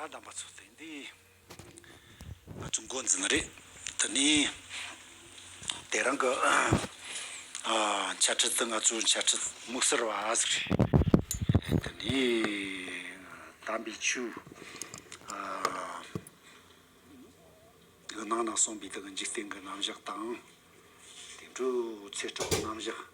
ཡ་དམ་པ་ཚོ་དེ་འདི་ང་ཚོ་མགོ་འཛིན་མ་རེད་དེ་ནི་དེ་རང་གི་འཆད་ཁྲིད་དེ་ང་ཚོའི་འཆད་ཁྲིད་དམིགས་བསལ་བ་ཟིག་རེད་དེ་ནི་དམ་པའི་ཆོས་གི་ནང་ན་གསུངས་པའི་དེ་གི་འཇིག་རྟེན་གི་རྣམ་གཞག་དང་དེ་འགྲོའི་ཚེ་སྒྲུབ་གི་རྣམ་གཞག།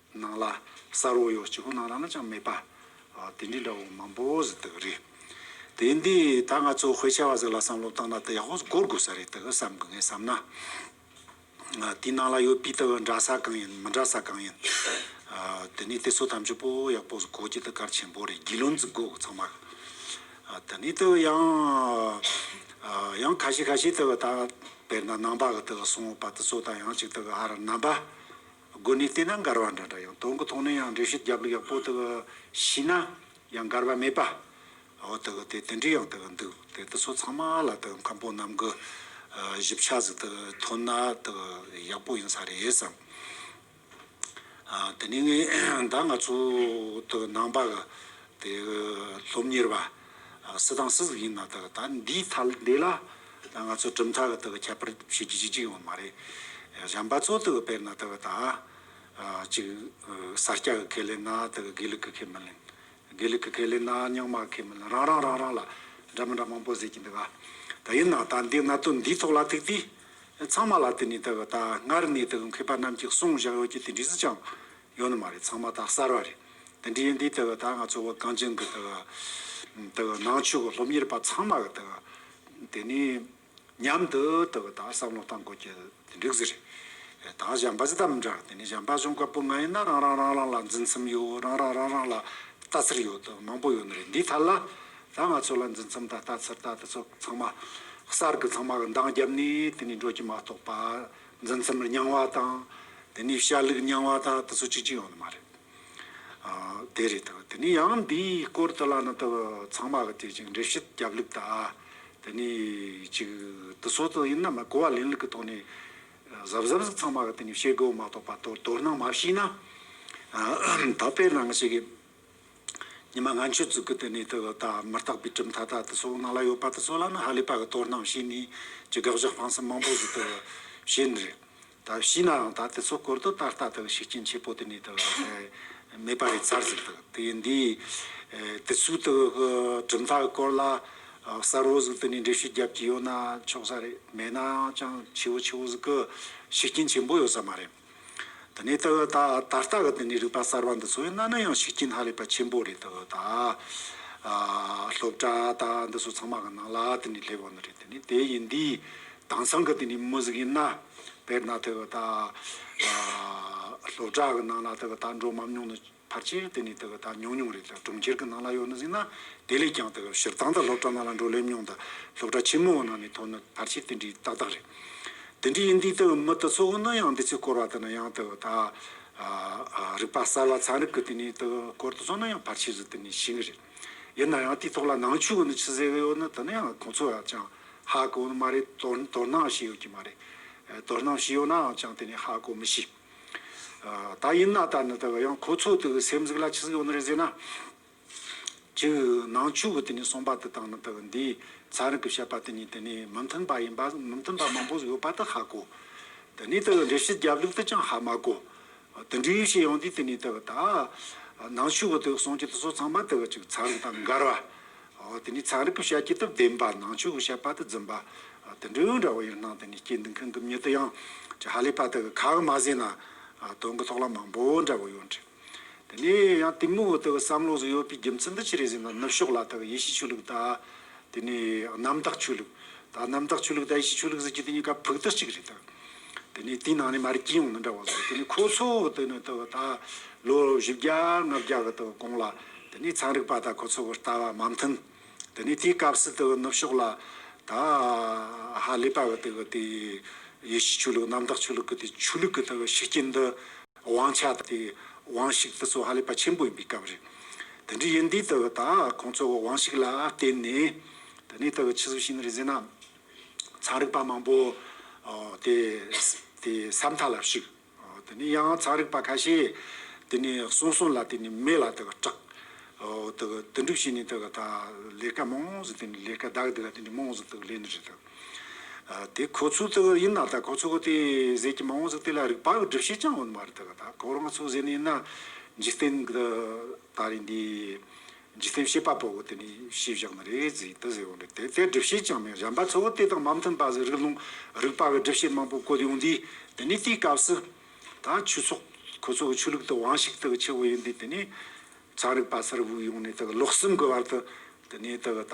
ནང་ལ་གསར་བོ་ཡོད་སྤྱི་ཁོག་ནང་རང་ལ་ཅང་མེད་པ། དེ་འདྲའི་འདྲ་བོ་མང་པོ་ཟིག་འདུག་རེད། དེ་འདི་ད་ང་ཚོ་བྷེ་ཆ་བ་ཟིག་ལ་བསམ་བློ་བཏང་ན་དེ་ཡག་པོ་གོ་དགོས་ས་རེད་དག་བསམ་གི་ངས་བསམ་ན། དེའི་ནང་ལ་ཡོད་སྤུས་དག་འདྲ་ས་གང་ཡིན་མི་འདྲ་ས་གང་ཡིན། དེ་ནས་དེ་ཚོ་ཐམས་ཅད་པོ་ཡག་པོ་ཟིག་གོ་རྒྱུ་དེ་གལ་ཆེན་པོ་རེད་རྒྱུས་ལོན་ཟིག་དགོས་ཚང་མར། དེ་ནས་དེ་ཡང། ཡང་ཁ་ཤས་ཁ་ཤས་དེ་ད་དཔེར་ན་ནང་པ་གི་དེ་སོང་བ་དེ་ཚོ་དང་ཡང་གཅིག་དེ་ཨ་ར་རྣམ་པ། དགོན་གནས་བལྟས་ན་མགར་བ་འདྲ་འདྲ་ཡང་དོན་གུ་ཐོག་ནས་ཡང་འགྲེལ་བཤད་རྒྱབ་ལུགས་ཡག་པོ་དག་ཤིས་ན་ཡང་མགར་བ་མེད་པ་འོ་དག་དེ་དེ་འདྲི་ཡང་དག་འདུག་དེ་དག་ཚོ་ཚང་མ་ལ་དག་མཁན་པོ་རྣམས་གི་ཞིབ་ཆ་ཟིག་དག་ཐོན་ན་དག་ཡག་པོ་ཡིན་ས་རེད་བསམ། དེ་ནས་ངས་ད་ང་ཚོ་དག་ནང་པ་དེ་སློབ་གཉེར་བ། སུ་དང་སུ་ཟིག་ཡིན་ན་དག་ད་འདིའི་ཐ་དད་ལ་ང་ཚོ་གྲུབ་མཐའ་གི་དག་ཁྱད་པར་བྱེད་རྒྱུ་ཅི་ཅི་ཡོད་མ་རེད། གཞན་པ་ཚོ་དག་དཔེར་ན་དག་ད་ཅིག་ས་སྐྱ་གི་ཁས་ལེན་ན་དག་དགེ་ལུགས་གི་ཁས་མི་ལེན། དགེ་ལུགས་གི་ཁས་ལེན་ན་རྙིང་མ་གི་ཁས་མི་ལེན་རང་རང་རང་རང་ལ་འདྲ་མི་འདྲ་མང་པོ་ཟེར་གྱི་འདུག་ག་དེ་ཡིན་ན་ད་འདི་གནད་དོན་འདིའི་ཐོག་ལ་ཐུག་དུས་ཚང་མ་ལ་དེ་ནས་དག་ད་སྔར་ནས་དག་མཁས་པ་རྣམས་ཀྱི་གསུང་བཞག་ཡོད་ཀྱི་དེ་འདྲིས་ཅང་ཡོད་ནི་མ་རེད་ཚང་མ་ད་གསར་བ་རེད། དེ་འདྲའི་ཡིན་དུས་ད་ག་ད་ང་ཚོ་བོད་གངས་ཅན་གི་ད་ག་ད་ག་ནང་ཆོས་ཀྱི་སློབ་གཉེར་པ་ཚང་མ་གི་ད་ག་དེ་ནས་མཉམ་དུ་ད་ག་ད་བསམ་བློ་བཏང་དགོས་ཀྱི་དེ་འགྲིག་ཟེར། ད་གཞན་པ་ཇི་ལྟར་མི་འདྲ་དེ་ནས་གཞན་པ་གཞུང་བཀའ་པོད་ལྔ་ཡིན་ན་རང་རང་རང་རང་ལ་འཛིན་མཚམས་ཡོད་རང་རང་རང་རང་ལ་ལྟ་ཚུལ་ཡོད་དོ་མང་པོ་ཡོད་ནི་རེད་འདི་ཐད་ལ་ད་ང་ཚོ་ལ་འཛིན་མཚམས་ད་ལྟ་ཚུལ་ད་དེ་ཚོ་ཚང་མ་གསར་གི་ཚང་མ་གི་འདང་བརྒྱབ་ནས་དེ་ནས་འགྲོ་རྒྱུ་མ་གཏོགས་པ་འཛིན་རྩོམ་རེ་རྙིང་བ་དང། དེ་ནས་ཤར་ལུགས་རྙིང་བ་དང་དེ་ཚོ་གཅིག་གཅིག་ཡོང་ནི་མ་རེད། དེ་རེད་དོ། དེ་ནས་ཡང་འདིའི་སྐོར་དུ་ལ་ནི་དོ་ཚང་མ་གི་དེ་ཅིག་འགྲེལ་བཤད་རྒྱབ་ལུགས་དང། དེ་ནས་ཅིག་དེ་ཚོ་དང་ཡིན་ན་མ་གོ་བ་ལེན་ལུགས་ཀྱི་ཐོག་ནས། གཟབ་གཟབ་ཟིག་ཚང་མ་གི་དེ་ནས་བཤད་དགོས་མ་གཏོགས་པ་དོར་དོར་སྣང་མ་བྱས་ན། ད་དཔེར་ན་ང་ཞིག་གིས། ཉི་མ་ལྔ་མཆོད་བཙུགས་ཀྱི་དེ་ནས་དེ་ལ་དག་མི་རྟག་པའི་གྲིབ་མཐའ་དག་དེ་སོགས་ནང་ལ་ཡོད་པ་དེ་ཚོ་ལ་ནི་ཧ་ལས་པ་གི་དོར་སྣང་བྱས་ནས་ཀྱི་དགག་བཞག་སྤང་སེམས་མང་པོ་ཞིག་དེ་ལ་བྱས་ནི་རེད། ད་བྱས་ནའང་དག་དེ་ཚོ་སྐོར་དུ་ད་ལྟ་དེ་ལ་ཤུགས་རྐྱེན་ཆེ་པོ་དེ་ནས་དེ་ལ་མེད་པ་རེད་ཚར་ཟིག་དག་དེ་ཡིན་དུས། དེ་ཚོའི་དེ་གི་གྲིབ་མཐའ་གི་སྐོར་ལ་གསལ་བོ་ཟིག་དེ་ནས་འགྲེལ་བཤད་བརྒྱབ་ཀྱི་ཡོད་ན་ཆོག་ས་རེད་མེད་ནའང་ཅང་ཆེ་བོ་ཆེ་བོ་ཟིག་གི་ཤུགས་རྐྱེན་ཆེན་པོ་ཡོད་ས་མ་རེད། ད་ནི་ཏོ་ཡོ་ཏ་ད་ལྟ་གི་འདི་ནི་རིག་པ་གསར་བ་འདི་ཚོ་ཡང་གནའ་ན་ཡང་ཤེས་ཀྱིན་ཧ་ལས་པ་ཆེན་པོ་རེད་ཏོ་ཡོ་ཏ་སློབ་གྲ་ད་འདི་ཚོ་ཚང་མ་གི་ནང་ལ་དེ་ནི་སླེབས་ཡོང་ནི་རེད་དེ་ནི་དེ་ཡིན་དུས་དང་སང་གི་དེ་ནི་མུ་ཟིག་ཡིན་ན་དཔེར་ན་ཏོ་ཡོ་ཏ་སློབ་གྲ་གི་ནང་ལ་ཏོ་ཡོ་ཏ་འགྲོ་མམ་མྱོང་ནི། ཕར་ཆེར་དེ་ནི་དེ་ག་ད་ཉུང་ཉུང་རེད་ལ་གྲོང་ཁྱེར་གྱི་ནང་ལ་ཡོང་ན་ཟིན་ན་དེ་ལས་ཀྱང་དེ་ག་ཞིར་ཐང་དང་སློབ་གྲྭ་ནང་ལ་འགྲོ་སླེབས་ཉུང་དང་སློབ་གྲྭ་ཆེན་མོ་བ་ནང་ནས་མཐོང་ན་ཕར་ཆེར་དེ་འདྲའི་ཏག་ཏག་རེད། དེ་འདྲའི་ཡིན་དུས་དེ་གའི་མི་དེ་ཚོ་གང་ན་ཡང་འདི་ཚོས་བསྐོར་བ་དེ་ན་ཡང་དེ་ག་ད་རིག་པ་གསར་བ་ཚན་རིག་གི་དེ་ནི་དེ་ག་བསྐོར་དུ་སོང་ན་ཡང་ཕར་ཆེར་རེ་དེ་ནི་ཞིག་ངེས་རེད། ཡིན་ན་ཡང་དེའི་ཐོག་ལ་ནང་ཆོས་གང་ནས་ཕྱི་ཟེར་བའི་ཡོད་ན་དེ་ནི་ཡང་ཁོང་ཚོ་ཡང་ཅང་ཧ་གོ་ནི་མ་རེད་དོ་དོ་སྣང་བྱས་ཡོད་ཀྱི་མ་རེད། དོ་སྣང་བྱས་ཡོད་ནའང་ཅང་དེ་ནི་ཧ་གོ་མི་ཤེས། ད་ཡིན་ན་ད་ནི་ད་གི་ཡང་ཁོ་ཚོ་དེ་གི་སེམས་གཟུགས་ལ་ཆི་ཟིག་ཡོང་ནི་རེད་ཟེར་ན། ཅི་ནང་ཆོས་གི་དེ་ནས་གསུངས་པ་དེ་དང་ནི་ད་གི་འདིའི་ཚང་རིང་གི་བཤད་པ་དེ་གཉིས་དེ་ནི་མི་མཐུན་པ་ཡིན་པ་མི་མཐུན་པ་མང་པོ་ཡོད་པ་དེ་ཧ་གོ། དེ་ནས་ད་གི་འགྲེལ་བཤད་རྒྱབ་ལུགས་དེ་ཀྱང་ཧ་མ་གོ། དེ་འདྲའི་བཤད་ཡོང་དུས་དེ་ནས་ད་གི་ད་ནང་ཆོས་གི་དེ་གསུང་རྒྱུ་དེ་ཚོ་ཚང་མ་ད་གི་ཅིག་ཚང་རིང་དང་མི་འགལ་བ། དེ་ནས་ཚན་རིག་གི་བཤད་ཀྱི་དུ་བདེན་པ་ནང་ཆོས་ཀྱི་བཤད་པ་དུ་རྫུན་པ་དུ་འབྲེལ་ཡོད་འདྲ་བོ་ཡང་སྣང་དེ་ནས་སྐྱེ་འདུག་མཁན་གྱི་མྱི་དུ་ཡང་ཅི་ཧ་ལས་པ་དུ་གི་ཁ་གི་མ་བཟས་ན་དོན་གི་ཐོག་ལ་མང་པོ་འདྲ་བོ་ཡོད་འདྲི། དེ་ནས་ཡང་དེ་མོ་དུ་གི་བསམ་བློ་སུ་ཡོད་པའི་རྒྱུ་མཚན་དུ་ཅི་རེད་ཟེར་ན་ནུབ་ཕྱོགས་ལ་དུ་གི་ཡེ་ཤེས་ཆོས་ལུགས་དང་དེ་ནས་གནམ་བདག་ཆོས་ལུགས་དང་གནམ་བདག་ཆོས་ལུགས་དང་ཡེ་ཤེས་ཆོས་ལུགས་ཟེར་གྱི་དེ་གཉིས་ཀ་ཕུག་ཏུ་གཅིག་རེད་དུ། དེ་ནས་དེའི་ནང་ནས་མར་སྐྱིད་ཡོང་ན་འདྲ་བ་བཟོ་དེ་ནས་ཁོ་ཚོ་དེ་ནས་ད་བར་ད་ལོ་བཞི་བརྒྱ་ལྔ་བརྒྱ་གི་དང་གོང་ལ་དེ་ནས་ཚན་རིག་པ་དང་ཁོ་ཚོ་བར་ལྟ་བ་མ་མཐུན་དེ་ནས་དེའི་སྐབས་སུ་དེ་ནུབ་ཕྱོགས་ལ་ད་ཧ་ལས་པ་གི་དེ་གི་དེ་ཡེ་ཤུ་ཆོས་ལུགས་གནམ་བདག་ཆོས་ལུགས་གི་དེ་ཆོས་ལུགས་གི་དེ་གི་ཤུགས་རྐྱེན་འདི་དབང་ཆ་དེ་དེ་དབང་ཤུགས་དེ་ཚོ་ཧ་ལས་པ་ཆེན་པོ་ཡིན་པའི་སྐབས་རེད། དེ་འདྲའི་ཡིན་དུས་དེ་གི་ད་ཁོང་ཚོ་གི་དབང་ཤུགས་ལ་བརྟེན་ནས་དེ་ནས་དེ་གི་ཕྱི་སུ་ཞིག་ནས་རེ་ཟེར་ན། ཚངས་རིག་པ་མང་པོ་དེའི་ས་མཐའ་ལ་ཞུགས། དེ་ནས་ཡང་ཚངས་རིག་པ་ཁ་ཤས་དེ་ནས་གསུང་གསུང་ལ་དེ་ནས་མེ་ལ་དེ་ག་སྐྲག། དོན་གྲུབ་བྱས་ནས་དེ་ག་ད་ལས་ཀ་མང་ཟིག་དེ་ནས་ལས་ཀ་བདག་གི་དེ་ནས་མང་ཟིག་དེ་ལས་ནི་རེད་དོ། དེ་ཁོ་ཚོའི་དེ་ག་ཡིན་ན་ད་ཁོ་ཚོ་གི་དེ་ཟས་ཀྱི་མང་ཟིག་དེ་ལ་རིག་པ་གི་སྒྲིབ་བྱེད་ཅང་ཡོད་མ་རེད་དེ་ག་ད་ཁོ་རང་ཚོའི་ཟས་ནི་ཡིན་ན་འཇིག་རྟེན་གི་ད་རིང་འདིའི། འཇིག་རྟེན་བྱེད་པ་པོ་དེ་ནི་ཤེས་བཞག་ནི་རེ་རེས་ཟིན་དུ་ཟེར་བ་འདྲ་དེ་ལྟའི་སྒྲིབ་བྱེད་ཅང་མེད་གཞན་པ་ཚོ་དེ་དང་མ་མཐུན་པ་ཟེར་རིགས་ལུང་རིགས་པ་བའི་སྒྲིབ་བྱེད་མང་པོ་བཀོད་ཡོང་དུས་དེ་ནི་དེའི་སྐབས་སུ། ད་ཆུ་ཚོགས་ཁོ་ཚོ་གི་ཆོས་ལུགས་དུ་དབང་ཞིག་དག་ཆེ་བོ་ཡིན་དུས་དེ་ནི་ཚན་རིག་པ་ཚོར་དབུགས་དབྱུང་ནས་དག་ལོག་སུན་དགོས་བར་དུ་དེ་ནི་དག་ད།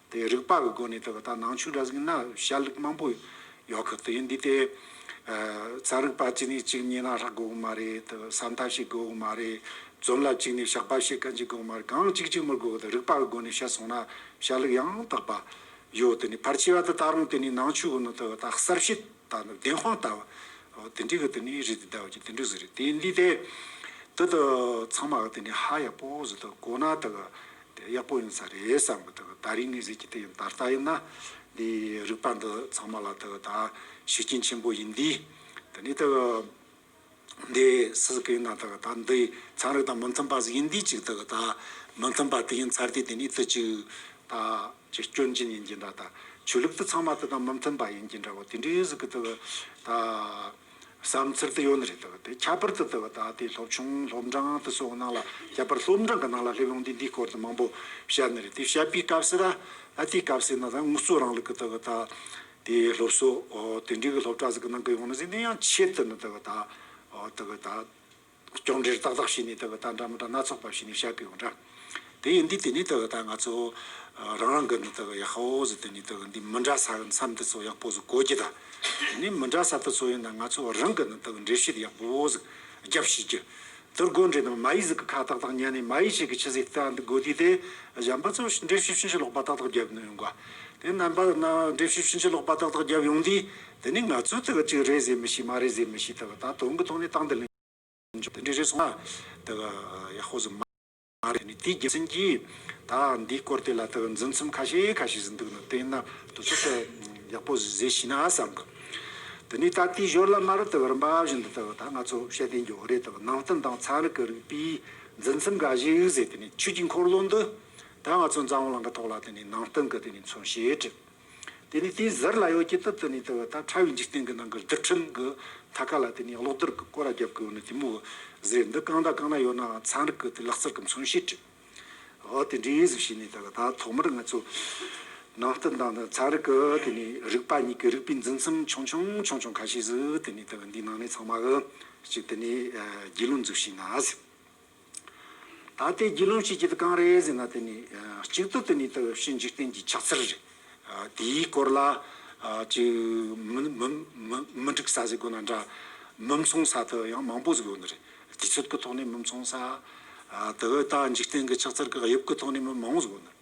དེ་རིག་པ་གི་སྒོ་ནས་བལྟས་པ་ད་ནང་ཆོས་གྲྭ་ཟིག་ན་ཞལ་ལུགས་མང་པོ་ཡོད་གི་དེ་འདི་ལྟའི་རྩ་རིག་པ་གཅིག་ནས་གཅིག་ཉེ་ན་རག་དགོས་གི་མ་རེད་བསམ་ཐབས་ཤིག་དགོས་གི་མ་རེད་རྫོམ་ལ་གཅིག་ནས་བཤགས་པ་ཤེས་ག་འཇི་དགོས་གི་མ་རེད་གང་གཅིག་གཅིག་མུར་དགོས་གི་རིག་པ་གི་སྒོ་ནས་བཤད་སོང་ན་ཞལ་ལུགས་ཡང་དག་པ་ཡོད་དེ་ནས་ཕར་ཆེ་བ་དེ་ད་རུང་དེ་ནས་ནང་ཆོས་གི་ནང་བལྟས་པ་ད་གསར་བཤད་ད་ནི་བདེན་དཔང་ལྟ་བུ་དེ་འདྲི་གི་དེ་ནས་རེད་དེ་ཟླ་བ་གཅིག་དེ་འདྲི་ཟིག་རེད་དེ་འདི་ལྟའི་དེ་དག་ཚང་མ་གི་དེ་ནས་ཧ་ཡག་པོ་ཟིག་ཏུ་གོ་ན་དེ་གི་དེ་ཡག་པོ་ཡིན་ས་རེད་བསམ་གི་འདུག་ད་རིང་ནས་གཟིགས་ཀྱི་འདུག་ཡང་ད་ལྟ་ཡིན་ན་འདི་རིག་པ་འདི་ཚང་མ་ལ་དུ་ད་ཤུགས་རྐྱེན་ཆེན་པོ་ཡིན་དུས་དེ་ནས་དུ་འདི་སུ་ཟིག་གི་ཡིན་ན་དུ་ད་འདི་ཚན་རིག་དང་མི་མཐུན་པ་ཟིག་ཡིན་དུས་ཅིག་དུ་ད་མི་མཐུན་པ་དེ་ཡིན་ཚར་དུས་དེ་ནས་དུ་ཅིག་ད་ཅི་སྐྱོན་ཅན་ཡིན་གྱི་འདྲ་ད་ཆོས་ལུགས་དུ་ཚང་མ་དུ་ད་མི་མཐུན་པ་ཡིན་གྱི་འདྲ་བོ་དེ་འདྲས་ཟིག་གི་འདུག་ད། བསམ་ཚུལ་དེ་ཡོད་ནི་རེད་དོ། དེ་ཁྱད་པར་དུ་དེ་བ་ད་ལྟའི་སློབ་ཆུང་སློབ་འབྲང་དེ་སོགས་ནང་ལ་ཁྱད་པར་སློབ་འབྲང་གི་ནང་ལ་ལྷུག་ལུང་དེ་འདིའི་སྐོར་དུ་མང་པོ་བཤད་ནི་རེད་དེ་བཤད་པའི་སྐབས་སུ་ར་ཨ་དེའི་སྐབས་སུ་ན་ད་དངོས་གཙོ་རང་ལུགས་ཀྱི་དེ་བ་ད་དེའི་སློབ་གསོ་དེ་འབྲེལ་གྱི་སློབ་གྲྭ་ཟིག་གི་ནང་གི་ཡོང་ན་ཟིག་ནས་ཡང་ཆེད་དུ་ནི་དེ་བ་ད་དེ་བ་ད། སྐྱོང་འདྲིར་ཏག་ཏག་བྱས་ནས་བསྡད་པ་དང་འདྲ་མི་འདྲ་སྣ་ཚོགས་པ་བྱས་ནས་བཤད་དགོས་འདྲ། དེ་ཡིན་དུས་དེ་ནས་བལྟས་པ་དང་ང་ཚོ་རང་རང་སྒོས་ནས་བལྟས་པ་ཡག་ཧོ་ཧོ་ཟིག་བལྟས་ནས་བལྟས་པ་འདི་མི་འདྲ་ས་མཚམས་དེ་ཚོ་ཡག་པོ་ཟིག་གོ་རྒྱུ་དང། དེ་ནས་མི་འདྲ་ས་དེ་ཚོ་ཡིན་ན་ང་ཚོ་རང་སྒོས་ནས་བལྟས་པ་འགྲེལ་བཤད་ཡག་པོ་ཟིག་རྒྱབ་བྱེད་རྒྱུ། དེར་སྒོ་འགྲེལ་ནང་མ་ཡིག་ཟིག་གི་ཁ་ཏག་ཏག་ཉན་ནས་མ་ཡིག་ཞིག་གི་ཕྱི་ཟིག་ཏག་འདི་དགོས་དུས་དེ་གཞན་པ་ཚོ་འགྲེལ་བཤད་ཕྱིན་ཅི་ལོག་པ་ཏག་ཏག་རྒྱབ་ཡོང་དགོས། དེ་རྣམ་པ་རྣམས་འགྲེལ་བཤད་ཕྱིན་ཅི་ལོག་པ་ཏག་ཏག་རྒྱབ་ཡོང་དུས། འདི་ནི་ང་ཚོའི་དག་གཅིག་རེད་ཟེར་མི་སྲིད་མ་རེད་ཟེར་མི་སྲིད་དག་ད་དུང་གི་ཐོག་ནས་ཏང་དང་ལས་འབྱོར་འདི་འདྲས་རེད་སོང་ན་དག་ཡག་ཧོ་ཟོ་མ་རེད་ནི་དེའི་རྒྱུ་མཚན་གྱིས་དག་འདིའི་སྐོར་དེ་ལ་དག་འཛིན་མཚམས་ཁ་ཤས་ཁ་ཤས་ཟིན་འདུག་ནོ་དེས་ན་དུ་ཚོད་དག་ཡག་པོ་ཟིག་ཟེར་ཤེས་ན་བསམ་གི་འདི་ནི་དག་དེའི་ཞོར་ལ་མར་དག་རིམ་པ་བཞིན་དུ་དག་ད་ང་ཚོ་ཤེས་ལྡན་འགྱོག་རེད་དག་ནང་བསྟན་དང་ཚན་རིག་གི་རིགས་པའི་འཛིན་མཚམས་འགའ་ཞིག་ཟེར་དེ་ནི་ཆོས་ཀྱི་འཁོར་ལོ་འདི་དག་ང་ཚོ་འཛམ་གླིང་གི་ཐོག་ལ་དེ་ནི་ནང་བསྟན་གི་དེ་ནི་མཚོན་བྱེད་བྲིས། དེ་ནས་དེའི་ཟུར་ལ་ཡོ་གྱི་ཏི་ཏི་ནས་དེ་བ་དང་ཕྲ་བའི་འཇིག་རྟེན་གྱི་ནང་གི་རྡུལ་ཕྲན་གྱི་མཐའ་ཁ་ལ་དེ་ནས་གློག་རྡུལ་གྱི་ཀོ་ར་རྒྱབ་ཀྱི་འོག་ནས་དེ་མོ་བུ་ཟེར་འདི་གང་དང་གང་ན་ཡོད་ནའང་ཚན་རིག་གི་དེ་ལག་རྩལ་གྱི་མཚོན་བྱེད་བྲི། འོ་དེ་འདྲའི་ཡིན་ཟིག་བྱས་ནས་དེ་ལ་ད་ཐོག་མར་ང་ཚོས་ནང་བསྟན་དང་དེ་ཚན་རིག་གི་དེ་ནས་རིག་པ་གཉིས་ཀྱི་རིགས་པའི་འཛིན་མཚམས་ཆུང་ཆུང་ཆུང་ཆུང་ཁ་ཤས་སུ་དེ་ནས་དེ་བ་འདིའི་ནང་ནས་ཚང་མ་གི་ཅིག་དེ་ནས་རྒྱུས་ལོན་འཛུགས་བྱས་ན་ཟིག། ད་ལྟའི་དགེ་སློང་ཆོས་བརྒྱད་གང་རེད་ཟེར་ན་དེ་ནི་གཅིག་ཏུ་དེ་ནི་ལྟ་བའི་བཤེས་འཇིག་རྟེན་གྱི་ཕྱག་འཚལ་རེད། དེའི་སྐོར་ལ་མི་འགྲིག་ས་ཟེར་དགོས་ན་འདྲ། མི་མཚུངས་ས་དེ་ཡང་མང་པོ་ཟེར་དགོས་ནི་རེད། དུས་ཚོད་ཀྱི་ཐོག་ནས་མི་མཚུངས་ས། དེ་བས་ད་འཇིག་རྟེན་གྱི་ཕྱག་འཚལ་གྱི་དབྱིབས་ཀྱི་ཐོག་ནས་མི་མང་བོ་ཟེར་དགོས་ནི་རེད།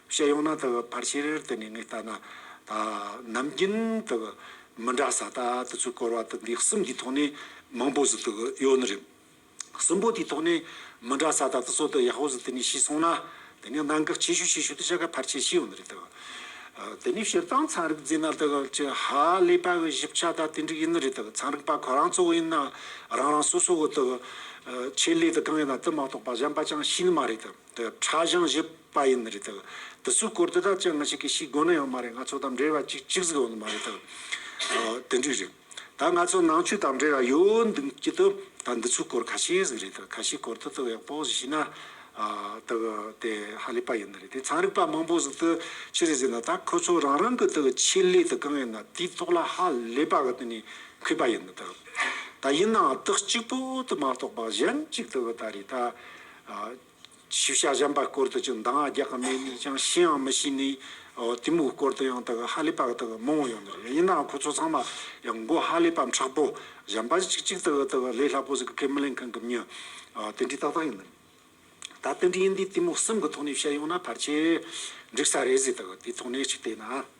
བཤད་ཡོང་ན་དག་ཕར་ཕྱིར་དེ་ནས་ངས་བལྟ་ན། ད་ནམ་རྒྱུན་དག་མི་འདྲ་ས་ད་དུ་ཚོད་སྐོར་བ་དག་འདི་གསུམ་གྱི་ཐོག་ནས་མང་པོ་ཟིག་དག་ཡོད་ནི་རེད། གསུམ་པོ་དེའི་ཐོག་ནས་མི་འདྲ་ས་ད་དུ་ཚོད་དག་ཡག་པོ་ཟིག་དེ་ནས་ཤེས་སོང་ན། དེ་ནས་གནང་བཀག་ཆེ་ཤོས་ཆེ་ཤོས་དེ་བྱ་དགའ་ཕར་ཆེར་ཤེས་ཡོང་ནི་རེད་དག། དེ་ནས་བཤད་སྟངས་ཚན་རིག་རྫས་ན་དག་ཅི་ཧ་ལས་པ་གི་ཞིབ་ཆ་ད་དེ་འགྲིག་ཡིན་ནི་རེད་དག་ཚན་རིག་པ་ཁོ་རང་ཚོ་ཡིན་ན་རང་རང་སོ་སོ་གི་དག་ཆེད་ལས་དག་གང་ཡིན་ན་དེ་མ་གཏོགས་པ་གཞན་པ་ཅང་ཤེས་ནི་མ་རེད་དག། དེ་ཁྲ་གཞང་བཞི་པ་ཡིན་རེད་ཐལ། དེ་ཚོའི་སྐོར་དེ་དག་ཅི་ང་ཞིག་གིས་ཤིས་དགོས་ནི་ཡང་མ་རེད་ང་ཚོ་དང་འབྲེལ་བ་ཅིག་ཅིག་ཟིག་ཡོད་ནི་མ་རེད་ཐལ། དེ་འདྲས་རེད། ད་ང་ཚོ་ནང་ཆོས་དང་འབྲེལ་བ་ཡོད་འདུག་སྐྱིད་དུ་ད་འདི་ཚོའི་སྐོར་ཁ་ཤས་ཟིག་རེད་ཐལ་ཁ་ཤས་སྐོར་དེ་དག་ཡག་པོ་ཟིག་ཤེས་ན། དེ་གི་དེ་ཧ་ལས་པ་ཡིན་ནི་རེད་དེ་ཚང་རིག་པ་མང་པོ་ཟིག་དེ་ཅི་རེད་ཟེར་ན་ད་ཁོ་ཚོ་རང་རང་གི་དེ་གི་ཆེད་ལས་དེ་གང་ཡིན་ན་དེའི་ཐོག་ལ་ཧ་ལས་པ་གི་དེ་ནས་འཁོད་པ་ཡིན་ནི་ཐལ། ད་ཡིན་ནའང་དེ་གཅིག་པོ་དེ་མ་གཏོགས་པ་གཞན་ཅིག་དེ་གི་ད་རེད་ད། ཤེས་བྱ་གཞན་པ་སྐོར་དུ་ཅུང་འདང་ངར་རྒྱག་གི་མེད་ནས་ཀྱང་ཤེའང་མི་ཤེས་ནས། དེ་མོའི་སྐོར་དུ་ཡང་དག་ཧ་ལས་པ་དག་མང་བོ་ཡོང་གི་རེད། ཡིན་ནའང་ཁོ་ཚོ་ཚང་མ་ཡང་མགོ་ཧ་ལས་པ་མཁྲེགས་པོ་གཞན་པ་ཅིག་ཅིག་དག་དག་ལས་སླ་པོ་ཟིག་གི་ཁས་མི་ལེན་མཁན་གི་མི་དེ་འདྲའི་ཏག་ཏག་ཡིན། ད་དེ་འདྲའི་ཡིན་དུས་དེ་མོའི་སེམས་ཀྱི་ཐོག་ནས་བཤད་ཡོང་ན་ཕར་ཆེར་འགྲིག་ས་རེད་ཟེར་དག་དེའི་ཐོག་ནས་ཅིག་བལྟས་ན།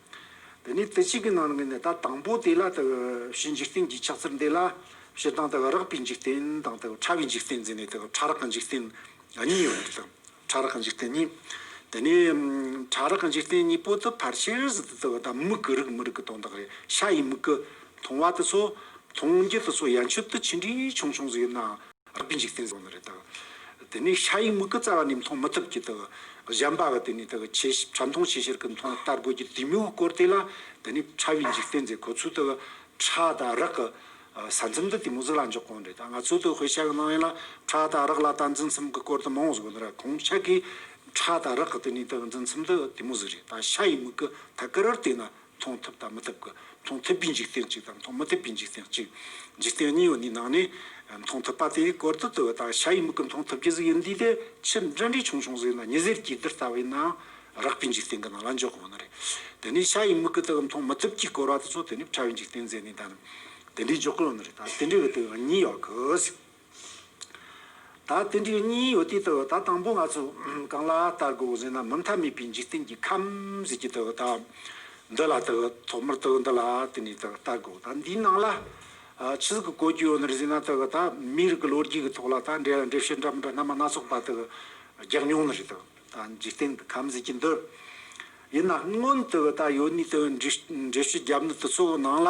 དེ་ནས་དེ་གཅིག་གི་ནང་ནས་ད་དང་པོ་དེ་ལ་ལྟ་བའི་ཕྱི་འཇིག་རྟེན་གྱི་ཆགས་ཚུལ་འདི་ལ་ཕྱི་དང་ལྟ་བའི་རགས་པའི་འཇིག་རྟེན་དང་ལྟ་བའི་ཕྲ་བའི་འཇིག་རྟེན་འཛིན་ནས་ལྟ་བའི་ཕྲ་རགས་ཀྱི་འཇིག་རྟེན་གཉིས་ཡོད་པར་ལྟ། ཕྲ་རགས་ཀྱི་འཇིག་རྟེན་གཉིས། དེ་ནས་ཕྲ་རགས་ཀྱི་འཇིག་རྟེན་གཉིས་པོ་དུ་ཕར་ཕྱིར་ཟིལ་དུ་བརྩི་བ་དང་མིག་གི་རིགས་མི་རིགས་ཀྱི་དོན་དག་རེད་ཤ་ཡི་མིག་གི། མཐོང་བ་དེ་ཚོ། མཐོང་རྒྱུ་དེ་ཚོ་ཡན་ཆོད་དུ་ཅི་འདྲའི་ཆུང་ཆུང་ཟིག་ཡིན་ནའང། རྟག་པའི་འཇིག་རྟེན་བཟང་ན་རེ་དག། དེ་ནས་ཤ་ཡི་མིག་གི་རྩ་བ་ནས་མཐོང་མི་ཐུབ་ཀྱི་དག། གཞན་པ་གི་དེ་ནས་དག་ཆེ་ཕྲ་མཐོང་ཆེ་ཆེར་གྱི་མཐོང་ལྟར་དགོས་ཀྱི་དུས་མོའི་སྐོར་དེ་ལ་དེ་ནས་ཕྲ་བའི་འཇིག་རྟེན་མཛད་ཁོ་ཚོས་དག། ཕྲ་དང་རག་གི་ས་མཚམས་དུ་དེ་མོ་གཟུགས་ལ་འཇོག་གོང་རེ་དག་ང་ཚོས་དུ་ཧོས་ཤ་གི་སྣང་བས་ལ་ཕྲ་དང་རག་ལ་ལྟ་འཛིན་མཚམས་གི་སྐོར་དུ་མང་བོ་གཟུགས་ན་ར་གོང་ཤ་གིས་ཕྲ་དང་རག་གི་དེ་ནས་དག་འཛིན་མཚམས་དུ་དེ་མོ་གཟུགས་རེ་དག་ཤ་ཡི་མིག་གི་ཐད་ཀར་བར་དེ་ན་མཐོང་ཐུབ་དང་མི་ཐུབ་ཀྱི་མཐོང་ཐུབ་པའི་འཇིག་རྟེན་གཅིག་དང་མཐོང་མི་ཐུབ་པའི་འཇིག་རྟེན་གཅིག། འཇིག་རྟེན་གཉིས་པོ་ནི་ནང་ནས་མཐོང་ཐུབ་པ་དེ་གོར་དུ་དུ་བ་དང་བྱ་ཡི་མིག་གིས་མཐོང་ཐུབ་ཀྱི་གཟུགས་ཡིན་དུས་དེ་ཕྱིར་འབྲེལ་འདྲིས་ཆུང་ཆུང་ཟིག་ན་ཉི་ཟེར་གྱི་རྡུལ་ལྟ་བུའི་ནང་རགས་པའི་འཇིག་རྟེན་གྱི་ནང་ལ་འཇོག་དགོས་ནི་རེད། དེ་ནས་བྱ་ཡི་མིག་གིས་དེ་གི་མཐོང་མི་ཐུབ་ཀྱི་གོར་བ་དེ་ཚོ་དེ་ནས་ཕྲ་བའི་འཇིག་རྟེན་མཛད་ནས་དེ་འདྲིས་འཇོག་དགོས་ནི་རེད་ད་དེ་འདྲའི་བའི་དུས་ཡང་གཉིས་ཡོད་དགོས། ད་དེ་འདྲའི་གཉིས་ཡོད་དུས་ད་དང་པོ་ང་ཚོ་གང་ལ་ལྟ་དགོས་ཟེར་ན་མུ་མཐའ་མེད་པའི་འཇིག་རྟེན་གྱི་ཁམས་ཟེར་གྱི་དུ་ད་འདི་ལ་དུ་ཐོག་མར་དུ་འདི་ལ་དེ་ནས་དུ་ལྟ་དགོས་ད་འདིའི་ནང་ལ་ཆི་ཟིག་གི་གོ་རྒྱུ་ཡོད་ནི་རེད་ཟེར་ན་དུ་ད་མིའི་རིགས་ཀྱི་ལོ་རྒྱུས་ཀྱི་ཐོག་ལ་ད་འདྲེ་འདྲེ་བཤད་འདྲ་མི་འདྲ་སྣ་མ་སྣ་ཚོགས་ད་དུ་རྒྱག་མྱོང་ནི་རེད་དུ་ད་འཇིག་རྟེན་གྱི་ཁམས་ཟེར་གྱི་འདི་ཡིན་ན་སྔོན་དུ་ད་ཡོད་ནི་དུ་འདྲེ་བཤད་རྒྱབ་ནི་དུ་ཚོགས་ནང་ལ་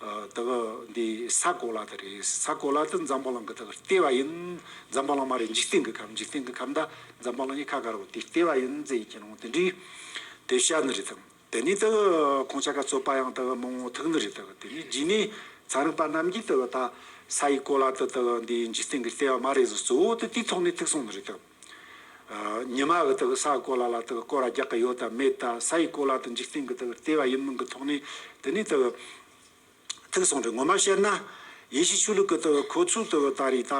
དེ་ག་འདི་ས་གོ་ལ་དེ་རེད་ས་གོ་ལ་དེ་འཛམ་བྷ་ལང་གི་དེ་གར་ལྟེ་བ་ཡིན། འཛམ་བྷ་ལང་མ་རེད་འཇིག་རྟེན་གི་ཁམས་འཇིག་རྟེན་གི་ཁམས་དང་འཛམ་བྷ་ལང་གཉིས་ཁ་ག་རུ་དེའི་ལྟེ་བ་ཡིན་ཙེ་ཡིན་གྱི་ནང་དེ་འདྲའི་དེ་ཤ་ནི་རེད་དམ་དེ་ནས་དེ་ག་ཁོང་ཅག་ག་རྩོད་པ་ཡང་དེ་ག་མང་བོ་ཐུག་ནི་རེད་དེ་ག་དེ་ནས་རྗེས་ནས་ཚན་རིག་པ་རྣམས་ཀྱིས་དེ་ག་ད་ས་ཡི་གོ་ལ་དེ་དེ་ག་འདི་འཇིག་རྟེན་གི་ལྟེ་བ་མ་རེད་ཟེར་གཙོ་བོ་དེ་དེའི་ཐོག་ནས་ཐུག་སོང་ནི་རེད་དམ། ཉི་མ་གི་དག་སའི་གོ་ལ་ལ་དག་སྐོར་རྒྱག་གི་ཡོད་དམ་མེད་དང་ས་ཡི་གོ་ལ་དང་འཇིག་རྟེན་གྱི་དག་ལྟེ་བ་ཡིན་མིན་གྱི་ཐོག་ནས་དེ་ནས་དག་ཐིག་གསུངས་ཏེ་ངོ་མ་བཤད་ན། ཡེ་ཤེས་ཆོས་ལུགས་ཀྱི་དག་ཁོ་ཚོའི་དག་ད་རེས་ད་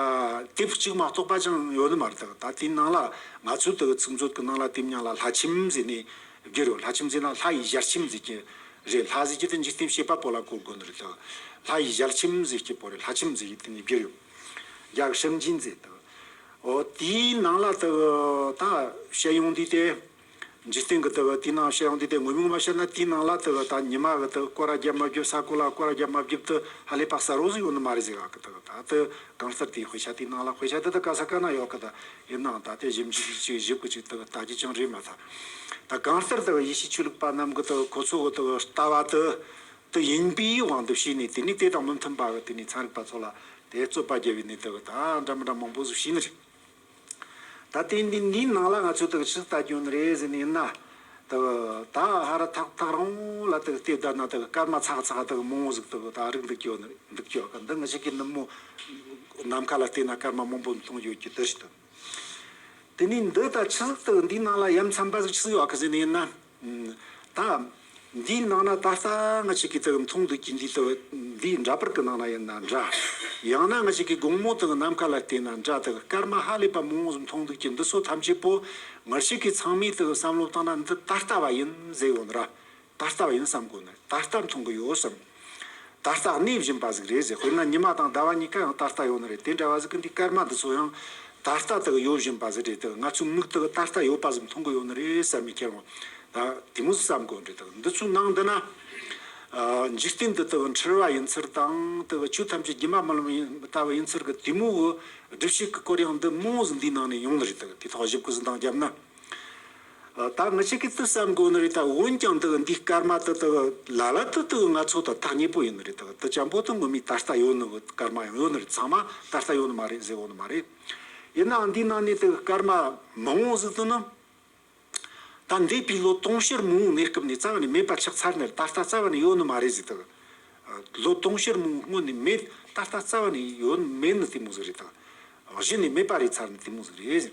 དེབ་གཅིག་མ་གཏོགས་པ་ཅང་ཡོད་ནི་མ་རེད་དག་ད་དེའི་ནང་ལ་ང་ཚོའི་དག་ཚིག་མཛོད་ཀྱི་ནང་ལ་དེབ་ཉང་ལ་ལྷ་ཁྱིམ་མཛེས་ནས་བརྒྱུད་རོ་ལྷ་ཁྱིམ་མཛེས་ན་ལྷ་ཡི་ཞལ་ཁྱིམ་མཛེས་ཀྱི་རེད་ལྷ་ཟེར་གྱི་དེ་འཇིག་རྟེན་བྱེད་པ་པོ་ལ་གོ་དགོས་ནི་རེད་དག་ལྷ་ཡི་ཞལ་ཁྱིམ་མཛེས་ཀྱི་པོ་རེད་ལྷ་ཁྱིམ་མཛེས་ཀྱི་དེ་ནས་བརྒྱུད་ཡོད། རྒྱག་ཞིབ་མཇིང་མཛད་དོ། དེའི་ནང་ལ་དེ་གི་ད་བཤད་ཡོང་དུས་དེ། འཇིག་རྟེན་གྱི་དེ་གི་དེའི་ནང་བཤད་ཡོང་དུས་དེ་ངོས་མིང་མ་བཤད་ན་དེའི་ནང་ལ་དེ་གི་ད་ཉི་མ་གི་དེ་གི་སྐོར་ར་རྒྱབ་མ་རྒྱུབ་ས་སྐོར་ལ་སྐོར་ར་རྒྱབ་མ་བརྒྱུབ་དུ་ཧ་ལས་པ་ཟ་རོགས་སུ་ཡོང་ནི་མ་རེད་ཟེར་ག་གི་དེ་གི་ད་དེ་གང་གསར་དེའི་དཔེ་ཆ་དེའི་ནང་ལ་དཔེ་ཆ་དེ་དེ་ག་ས་ག་ན་ཡོག་གི་དེ་ཡི་ནང་ད་དེ་ཞིབ་མཇིག་ཅིག་ཞིབ་གི་ཅིག་དེ་གི་ད་ཅིག་ཅིང་རེད་མ་ད། ད་གང་ལྟར་དེ་གི་ཡེ་ཤེས་ཆོས་ལུགས་པ་རྣམས་གི་དེ་གི་ཁོ་ཚོ་གི་དེ་གི་ལྟ་བ་དེ། དུ་ཡིན་པའི་དབང་དུ་བྱས་ནས་དེ་ནས་དེ་དང་མི་མཐུན་པ་དག་དེ་ནས་ཚངས་རིག་པ་ཚོ་ལ་དེ་རྩོད་པ་རྒྱལ་བའི་གནས་དེ་བས་དང་འདྲ་མི་འདྲ་མང་པོ་སུ་ཞིག་ནི་རེད། ད་ལྟའི་འདི་འདིའི་ནང་ལ་ང་ཚོས་དག་ཕྱི་ལྟ་སྐྱོན་རེ་ཟེར་ནས་ཡིན་ན། དག་ད་ཧ་ར་ཐག་ཐག་རང་ལ་དག་ལྟས་བདག་ན་དག་སྐར་མ་ཚག་ཚག་དག་མང་བོ་ཟིག་དག་ད་རིག་འདུག་ཀྱོ་ནི་འདུག་ཀྱོ་ག་འདི་ང་ཞིག་གི་ནུབ་མོ་ནམ་མཁའ་ལ་ལྟས་ན་སྐར་མ་མང་པོ་མཐོང་ཡོད་ཀྱི་དུ་ཞིག་དང། དེ་ནས་འདི་ལྟར་ཆུ་ཟགས་དང་འདིའི་ནང་ལ་ཡམ་ཚ་འབའ་ཟིག་ཆུ་ཟགས་ཡོད་ག་ཟེར་ནས་ཡིན་ན། ད་འདིའི་ནང་ན་ད་ལྟ་ང་ཅིག་གིས་ཙག་གི་འཐུང་འདོད་ཀྱི་འདི་ལྟ་བུ་འདིའི་འདྲ་པར་གི་ནང་ན་ཡིན་ན་འདྲ། ཡང་ན་ང་ཅིག་གིས་དགོང་མོ་དང་ནམ་མཁའ་ལ་བལྟས་ན་འདྲ་དང་སྐར་མ་ཧ་ལས་པ་མང་བོ་ཟིག་མཐོང་འདོད་ཀྱི་འདི་ཚོ་ཐམས་ཅད་པོ་ངར་ཅིག་གིས་ཚང་མས་དང་བསམ་བློ་བཏང་ན་འདི་ད་ལྟ་བ་ཡིན་ཟེར་ཡོང་ན་ར་ད་ལྟ་བ་ཡིན་བསམ་དགོས་ན་ད་ལྟ་མཐོང་གི་ཡོད་བསམ། ད་ལྟ་གནས་བཞིན་པ་ཟིག་རེད་ཟེར་དཔེར་ན་ཉི་མ་དང་ཟླ་བ་གཉིས་ཀ་ཡང་ད་ལྟ་ཡོད་ན་རེད་དེ་འདྲ་བ་ཟིག་གི་འདི་སྐར་མ་འདི་ཚོ་ཡང་ད་ལྟ་དག་ཡོད་བཞིན་པ་ཟིག་རེད་དེ་ང་ཚོའི་མིག་དག་ད་ལྟ་ཡོད་པ་ཟིག་མཐོང་གི་ཡོད་ན་རེད་བསམ་མི་ཁྱེར་འོང་ད་དེ་མོ་ཟིག་བསམ་དགོས་རེད་དེ་འདི་ཚོའི་ནང་འདི་ན། འཇིག་རྟེན་འདི་དག་འཁྲུལ་བ་ཡིན་ཚུལ་དང་དེ་ཆོས་ཐམས་ཅད་སྒྱུ་མ་མ་ལོན་ལྟ་བུ་ཡིན་ཚུལ་གི་དེ་མོའི་སྒྲུབ་བྱེད་ཀྱི་སྐོར་ཡང་འདི་མོ་ཟིག་འདིའི་ནང་ནས་ཡོང་ནི་རེད་དེ་ཐོག་བཞི་བརྐོས་ཟིན་དང་རྒྱབ་ན། ད་མི་ཆེ་གེ་ཏི་བསམ་དགོས་ནི་རེད་ད་འོན་ཀྱང་འདི་འདི་སྐར་མ་ཏི་ཏི་ལ་ལ་ཏི་ཏི་ང་ཚོ་ད་ཐག་ཉེ་པོ་ཡིན་ནི་རེད་ད་ཏི་ཅང་པོ་ཏི་ངོ་མི་ད་ལྟ་ཡོད་ནི་སྐར་མ་ཡང་ཡོད་ནི་རེད་ཚང་མ་ད་ལྟ་ཡོད་ནི་མ་རེད་ཟེར་འོང་ནི་མ་རེད་ཡིན་ནའང་འདི་ནང་ནས་ཏི་སྐར་མ་མང་བོ་ཟིག་ཏི་ནི་ད་འདས་པའི་ལོ་སྟོང་ཕྱིར་མང་བོའི་གནས་སྐབས་ནས་རྩ་བ་ནས་མེད་པ་ཆགས་ཚར་ནི་རེད་ད་ལྟ་རྩ་བ་ནས་ཡོད་ནི་མ་རེད་ཟེར་ཏི་ལོ་སྟོང་ཕྱིར་མང་བོའི་སྔོན་ནས་མེད་ད་ལྟ་རྩ་བ་ནས་ཡོད་མེད་ནི་དེ་མོ་ཟིག་རེད་ད་གཞི་ནས་མེད་པ་རེད་ཚར་ནི་དེ་མོ་ཟིག་རེད།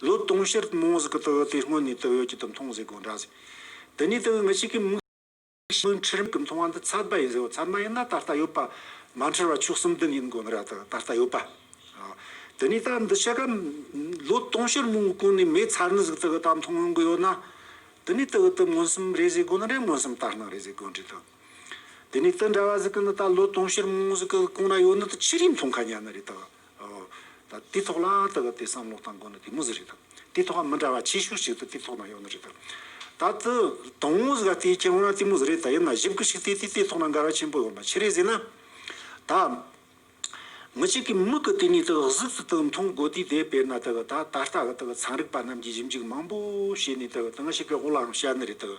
ལོ་སྟོང་ཕྱིར་རྨོངས་གཟུགས་ཀྱི་དུག་ཡོད་དེ་སྔོན་ནས་དུག་ཡོད་ཀྱི་དུག་མཐོང་ཟེར་དགོས་འདྲ་ཟེར། དེ་ནས་དུག་ཡོད་མི་གཅིག་གིས་མིག་ཤེས་ཀྱི་འཁྲུལ་མེད་ཀྱི་མཐོང་བ་འདི་ཚད་མ་ཡིན་ཟེར་བ་ཚད་མ་ཡིན་ན་ད་ལྟ་ཡོད་པ་མ་འཁྲུལ་བ་ཆོས་གསུམ་ལྡན་ཡིན་དགོས་འདྲ་དང་ད་ལྟ་ཡོད་པ། དེ་ནས་ད་འདི་ཕྱི་ཀ་ལོ་སྟོང་ཕྱིར་རྨོངས་གི་གོང་ནས་མེད་ཚར་ནི་གཟུགས་དུག་གི་དག་མཐོང་ཡོང་གི་ཡོད་ན། དེ་ནས་དུག་གི་དུག་མངོན་སུམ་རེད་ཟེར་དགོས་ནི་འདྲ་མངོན་སུམ་ལྟར་སྣང་རེད་ཟེར་དགོས་འདྲ་དང། དེ་ནས་དུག་འདྲ་བ་གཟུགས་ཀྱི་འདི་ད་ལོ་སྟོང་ཕྱིར་རྨོངས་གཟུགས་ཀྱི་གོང་ན་ཡོད་ནི་དུག་ཕྱི་རིས་མཐོང་ག་ཉན་ནི་རེད་དང། དང། དེའི་ཐོག་ལ་ད་གབ་སྟེ་བསམ་བློ་བཏང་དགོས་ན་དེ་མོ་ཟེར་རེད། དེའི་ཐོག་ལ་མི་འདྲ་བ་ཆེ་ཤོས་ཤིག་ཏུ་དེའི་ཐོག་ན་ཡོང་ནི་རེད། ད་དེ་དང་བོ་ཟེར་དེའི་རྐྱེན་ཡོང་ན་དེ་མོ་ཟེར་རེད་ད་ཡིན་ན་གཞི་བཀུར་ཞིག་སྟེ་དེའི་ཐོག་ན་འགལ་བ་ཆེན་པོ་ཡོང་བ་ཆེ་རེད་ཟེར་ན། ད། མི་གཅིག་གིས་མི་གི་དེ་ནས་ད་གཟུགས་སུ་ད་མཐོང་དགོས་དུས་དེ་དཔེར་ན་ད་ད་ལྟ་གི་ད་ཚན་རིག་པ་རྣམས་ཀྱིས་ཞིབ་འཇུག་མང་པོ་བྱས་ནས་ད་ད་ང་ཞིག་གི་དབུ་ལའང་བཤད་ནི་རེད།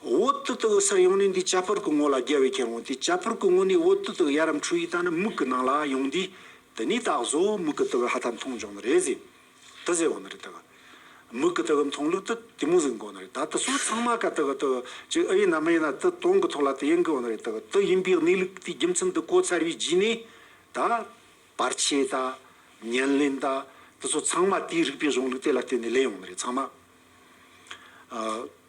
འོ་དུ་དག་གི་སར་ཡོང་ནས་འདིའི་བྱ་ཕུར་གྱི་སྔོ་ལ་རྒྱལ་བས་ཁྱེར་འོང་སྟེ་བྱ་ཕུར་གྱི་སྔོ་ནས་འོ་དུ་དག་ཡར་རམ་འཕྲུལ་ཡིག་དང་ནི་མིག་གི་ནང་ལ་ཡོང་དུས་དེ་ནས་དག་བཟོ་མིག་གི་དག་གི་ཧ་ད་མཐོང་བྱུང་ན་རེད་ཟེར། དི་ཟེར་བ་ན་རེད་དག། མིག་གི་དག་གི་མཐོང་ལུགས་དི་དེ་མོ་ཟིག་མགོ་ན་རེད་དག་དི་སོགས་ཚང་མ་ཀ་དག་གི་དག་ཅིག་ཨི་ཡིན་ནམ་མ་ཡིན་ན་དི་སྟོང་གི་ཐོག་ལ་དི་ཡིན་དགོས་བ་ན་རེད་དག་དི་ཡིན་པའི་གནས་ལུགས་དེའི་རྒྱུ་མཚན་དི་གོ་ཚར་བའི་རྗེས་ནས་དག། བར་ཆད་དག། ཉེར་ལེན་དག་དི་སོགས་ཚང་མ་དེའི་རིགས་པའི་གཞུང་ལུགས་དེ་ལ་བརྟེན་ནས་ལེན་ཡོང་ན་རེད་ཚང་མ།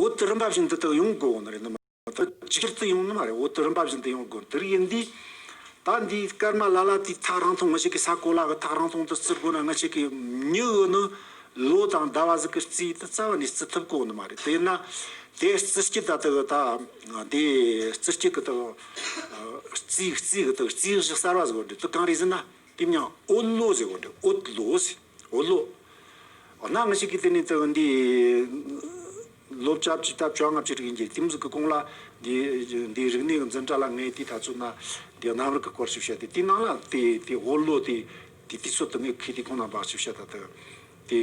འོད་དུ་རིམ་པ་བཞིན་འདི་དག་ཡོངས་དགོས་དབང་རེད་ནི་མ་རེད། ཇི་ལྟར་དུ་ཡོང་ནི་མ་རེད་འོད་དུ་རིམ་པ་བཞིན་དུ་ཡོངས་དགོས་དེ་རིགས་ཡིན་དུས། ད་འདིའི་སྐར་མ་ལ་ལ་དེའི་ཐག་རིང་ཐུང་ངུ་ཞིག་གི་ས་གོ་ལ་གི་ཐག་རིང་ཐུང་དུ་བརྩི་དགོས་ན་ངུ་ཞིག་གི་མྱུ་གུ་ནི་ལོ་དང་ཟླ་བ་ཟིག་གི་རྩིས་དུ་རྩ་བ་ནས་བརྩི་ཐུབ་དགོས་དབང་ནི་མ་རེད་དེ་ཡིན་ན། དེའི་རྩི་སྐྱི་ད་དུ་ད་དེའི་རྩི་སྐྱི་གི་དག་རྩིས་རྩིས་གི་དག་རྩིས་གཞི་གསར་བ་ཟེར་དགོས་རེད་དུ་གང་རེད་ཟེར་ན་དེ་མྱང་འོད་ལོ་ཟེར་དགོས་རེད་འོད་ལོ་ཟེར། འོ་ལོ། འོ་ན་ང་ཞིག་གིས་དེ་ནས་ཙི་འདི། ལོ་བཅོ་བརྒྱད་དང་བཅོ་ལྔ་བཅུ་དྲུག་ཡིན་གྱི་དེ་མུས་ཀྱི་གོང་ལ། འདི་འདི་རིག་གནས་ཀྱི་འཛིན་གྲྭ་ལ་ངས་དེ་ད་ཚོད་ན། འདི་གནམ་རིག་གི་སྐོར་ཞིག་བཤད་དེ་དེ་ནང་ལ་དེ་དེ་འོ་ལོ་དེ། དེ་དེ་ཚོད་དུ་ངས་ཁས་དེ་ཁོང་ན་འབག་ཅིག་བཤད་ད་ལྟ། དེ།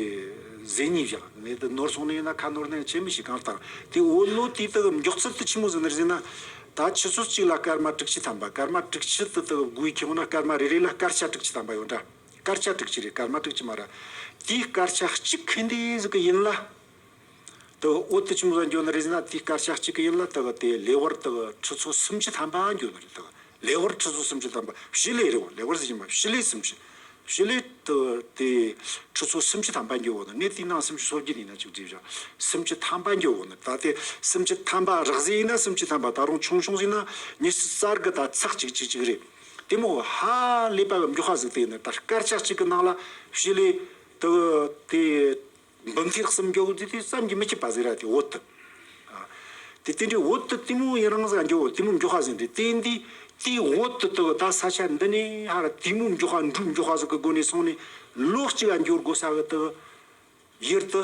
ཟས་གཉིས་བཞག་ངས་དེ་ནོར་སོང་ནས་ཡིན་ན་ཁ་ནོར་ནས་ཁྱེད་མི་ཞིག་གང་བཏང་དེ་འོ་ལོ་དེ་དེ་མགྱོགས་ཚད་དུ་ཆི་མོ་ཟིན་ནི་ཟིན་ན། ད་ཁྱི་ཚོད་གཅིག་ལ་སྐར་མ་དྲུག་ཅུ་ཐམ་པ་སྐར་མ་དྲུག་ཅུ་དེ་དེ་དགུའི་ཁྱེད་འོ་ན་སྐར་མ་རེ་རེ་ལ་སྐར་ཆ་དྲུག་ཅུ་ཐམ་པ་ཡོད་འདྲ། དཀར་ཆག་དྲུག་ཅི་རེད་དཀར་དམར་དྲུག་ཅི་མ་རེད། དེའི་དཀར་ཆག་གཅིག་གི་འདི་ཟིག་གི་ཡིན་ལ། དེ་གི་འོད་དུ་ཅུང་ཟད་འགྱུ་ན་རེ་ཟིན་ན་དེའི་དཀར་ཆག་གཅིག་གི་ཡིན་ལ་དེ་གི་དེ་ལེ་ཝར་དེ་གི་ཁྲི་ཚོ་སུམ་ཅུ་ཐམ་པ་འགྱུ་ན་རེ་དེ་གི་ལེ་ཝར་ཁྲི་ཚོ་སུམ་ཅུ་ཐམ་པ་བཞི་ལེ་རེད་བ་ལེ་ཝར་ཟིག་ཡིན་པ་བཞི་ལེ་སུམ་ཅུ་བཞི་ལེ་དེ་གི་དེ་ཁྲི་ཚོ་སུམ་ཅུ་ཐམ་པ་འགྱུ་བ་ན་ནི་དེའི་ནང་སུམ་ཅུ་སོ་བརྒྱད་ཡིན་ན་ཅིག་བྲིས་བཞག་སུམ་ཅུ་ཐམ་པ་འགྱུ་བ་ན་ད་དེ་སུམ་ཅུ་ཐམ་པ་རགས་ཟིག་ཡིན་ན་སུམ་ཅུ་ཐམ་པ་ད་རུང་ཆུང་ཆུང་ཟིག་ན་ཉི་ཤུ་རྩ་དགུ་ད་ཚག་གཅིག་གཅིག་གཅིག་རེད། དེ་མོ་ཧ་ལས་པའི་མགྱོགས་ཧ་གཟིགས་དེ་ནི་ད་སྐར་ཆ་གཅིག་གི་ནང་ལ་བྱི་ལའི་དུ་གུ་དེ་འབུམ་ཐེག་གསུམ་མགྱོགས་དེ་དུས་བསམ་གྱིས་མི་ཁྱབ་པ་གཟིགས་ར་དེ་འོད་དུ། དེ་དེ་འདྲའི་འོད་དུ་དེ་མོ་ཡི་རང་ས་འགྱོ་བོ་དེ་མོ་མགྱོགས་ཧ་གཟིགས་འདི་དེ་འདི་དེའི་འོད་དུ་དུ་གུ་ད་ས་ཆ་འདི་ནས་ཧ་ར་དེ་མོ་མགྱོགས་ཧ་འབྲུག་མགྱོགས་ཧ་གཟིགས་གི་སྒོ་ནས་སོང་ནས་ལོ་གཅིག་ལ་འགྱོར་དགོས་ས་གི་དུ་གུ་ཡིར་དུ།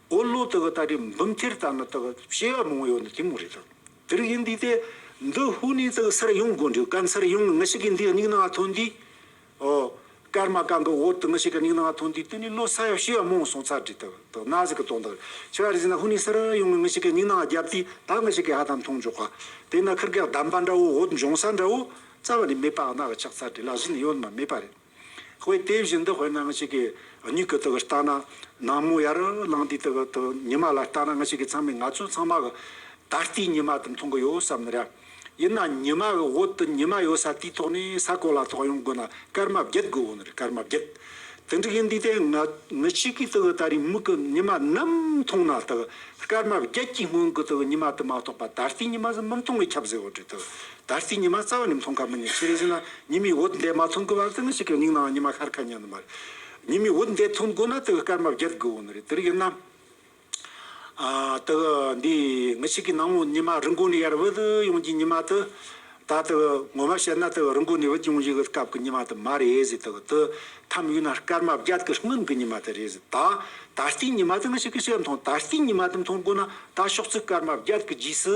འོ་ལོ་དེ་གི་ད་དེ་འབུམ་ཐེར་ལྟར་ན་ད་གི་བཤད་ཡག་མང་ཡོད་ན་དེ་མོ་རེད་ད་དེ་རིགས་ཡིན་དུས་ཏེ་འདི་ཧུ་ནི་ཙི་གི་སར་ཡོང་དགོས་འདུག་སྐམ་སར་ཡོང་གི་ངི་ཞིག་གི་འདི་སྙིང་ནང་ཐོན་དུས་ཨོ། སྐར་མ་གང་གི་འོག་ཏུ་ངི་ཞིག་གི་སྙིང་ནང་ཐོན་དུས་དེ་ནི་ལོ་ས་ཡག་བཤད་ཡག་མང་སོང་ཚར་དུས་ད་ད་ན་ཟིག་གི་དོན་དག་ཆེ་བ་རེད་ཟེར་ན་ཧུ་ནི་སར་ཡོང་གི་ངི་ཞིག་གི་སྙིང་ནང་རྒྱབ་དུས་ད་ངི་ཞིག་གི་ཧ་ད་མཐོང་འཇོག་ག་དེ་ན་ཁིར་གེགས་བསྡམས་པ་འདྲ་བོ་འོད་འབྱུང་ས་འདྲ་བོ་རྩ་བ་ནས་མེད་པ་ཨ་ན་གི་ཆགས་ཚར་དུས་ལག་བཞི་ནས་ཡོད་ནི་མ་མེད་པ་རེད། དཔེ་དེ་བཞིན་དུ་དཔེར་ན་ང་ཞིག་གིས་སྨྱུག་གི་དོགས་ལྟ་ན་ནག་མོ་ཡར་ལངས་དུས་དོགས་དང་ཉི་མ་ལ་ལྟ་ན་ང་ཞིག་གིས་ཚང་མས་ང་ཚོ་ཚང་མ་གི་ད་ལྟའི་ཉི་མ་དེ་མཐོང་གི་ཡོད་བསམ་ནི་རེད། ཡིན་ན་ཉི་མ་གི་འོག་ཏུ་ཉི་མ་ཡོད་ས་དེའི་ཐོག་ནས་ས་གོ་ལ་ཐོག་ཡོང་དགོས་ན་སྐར་མ་བརྒྱད་དགོས་འོ་ནི་རེད་སྐར་མ་བརྒྱད། དེ་འདྲ་གི་འདུས་ཏེ་ང་ང་ཞིག་གིས་དོགས་ལྟ་རེའི་མིག་གི་ཉི་མ་ནམ་མཐོང་ན་དོགས་སྐར་མ་བརྒྱད་ཀྱི་སྔོན་གྱི་དོགས་ཉི་མ་དེ་མ་གཏོགས་པ་ད་ལྟའི་ཉི་མ་ཟིན་མི་མཐོང་བའི་ཁྱབ་ཟེར་བ་དྲུག་དོགས་ད་ལྟའི་ཉི་མ་རྩ་བ་ནས་མཐོང་ཁ་མི་ཉན་ཤེས་རེ་བཞིན་ལ་ཉི་མའི་འོད་འདས་མ་མཐོང་དགོས་པ་ཙི་ནུ་ཞིག་གི་སྙིང་ནའང་ཉི་མ་ཤར་ཁ་ཉན་ནི་མ་རེད། ཉི་མའི་འོད་འདས་མཐོང་དགོས་ན་དེའི་སྐར་མ་བརྒྱད་དགོས་འོང་ནི་རེད་དེ་རིགས་ཡིན་ནམ། དེ་གི་འདི་ངི་ཞིག་གི་ནང་མོ་ཉི་མ་རི་མགོ་ནས་ཡར་བུད་ཡོང་རྒྱུའི་ཉི་མ་དེ། ད་དེ་གི་ངོ་མ་བཤད་ན་དེ་གི་རི་མགོ་ནས་བུད་ཡོང་བཞིན་གི་སྐབས་ཀྱི་ཉི་མ་དེ་མ་རེད་ཟེར་དེ་གི་དེ་ཐམས་ཡོད་ན་སྐར་མ་བརྒྱད་ཀྱི་སྔོན་གྱི་ཉི་མ་དེ་རེད་ཟེར་ད་ད་ལྟའི་ཉི་མ་དེ་ངི་ཞིག་གིས་བཤད་མཐོང་ད་ལྟའི་ཉི་མ་དེ་མཐོང་དགོས་ན་ད་ཕྱོགས་ཚུལ་སྐར་མ་བརྒྱད་ཀྱི་རྗེས་སུ་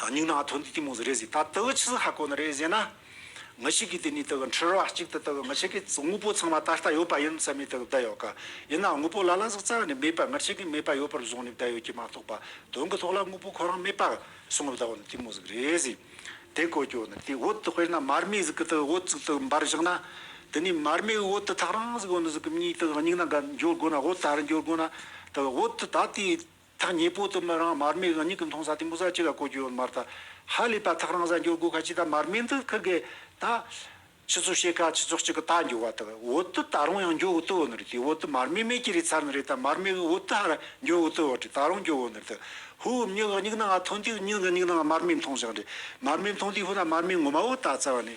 སྙིང་ནང་ཐུགས་འདི་གཏི་མུག་ཟེར་རེ་ཟིག་ད་ལྟ་བུ་ཆི་ཟིག་ཧ་གོ་ན་རེ་ཟེར་ན། ང་ཞིག་གིས་དེ་ནི་ད་གི་འཁྲུལ་བ་ཅིག་ད་ལྟ་བུ་ང་ཆེ་གི་དངོས་པོ་ཚང་མ་ད་ལྟ་ཡོད་པ་ཡིན་བསམ་ནས་ད་གི་བསྡད་ཡོད་ཀ། ཡིན་ནའང་དངོས་པོ་ལ་ལ་ཟིག་རྩ་བ་ནས་མེད་པ་ང་ཆེ་གི་མེད་པ་ཡོད་པར་བཟུང་ནས་བསྡད་ཡོད་ཀྱི་མ་གཏོགས་པ་དོན་གི་ཐོག་ལ་དངོས་པོ་ཁོ་རང་མེད་པ་བཟུང་བསྡད་བ་ནི་གཏི་མུག་ཟིག་རེ་ཟིག་དེ་གོ་ཀྱོ་ནི་དེ་འོད་དུ་དཔེར་ན་མར་མེ་ཟིག་གི་ད་གི་འོད་ཟིག་ད་གི་འབར་བཞག་ན། དེ་ནས་མར་མེའི་འོད་དུ་ཐག་རང་ཟིག་འོད་ཟིག་གི་མྱིག་ད་གི་སྙིང་ནང་ག་འགྱོ་དགོ་ན་འོད་ད་རུ་འགྱོ་དགོ་ན། ད་གི་འོད་དུ་ད་དེ་ཐག་ཉེ་པོ་དུ་མི་རང་མར་མེ་འུ་གཉིས་ཀྱི་མཐོང་ས་དེ་མུ་ས་གཅིག་ལ་གོ་རྒྱུ་མ་རེད། ཧ་ལས་པ་ཐག་རང་ས་འགྱུར་དགོས་ཁ་ཅིག་ད་མར་མེ་འདི་ཁུ་གེ་ད། ཆུ་ཚོད་ཤེས་ཁ་ཆུ་ཚོད་གཅིག་གི་ད་འགྱུར་བ་དག་འུ་དུ་ད་རུང་ཡང་འགྱུར་འུ་དུ་འུ་ནི་རེད་དེ་འུ་དུ་མར་མེ་མེད་ཀྱི་རེད་ཚར་ནི་རེད་ད་མར་མེ་འུ་དུ་ཧ་ར་འགྱུར་འུ་དུ་འུ་རེད་ད་རུང་འགྱུར་འུ་ནི་རེད་དུ་ཧུ་འུ་མྱི་འུ་གཉིས་ན་ང་ཐོན་དུས་མྱི་འུ་གཉིས་ན་ང་མར་མེ་མཐོང་ཞིང་རེད་མར་མེ་མཐོང་དུས་ཧུ་ད་མར་མེ་ངོ་མ་འུ་ད་ཚར་བ་ནི།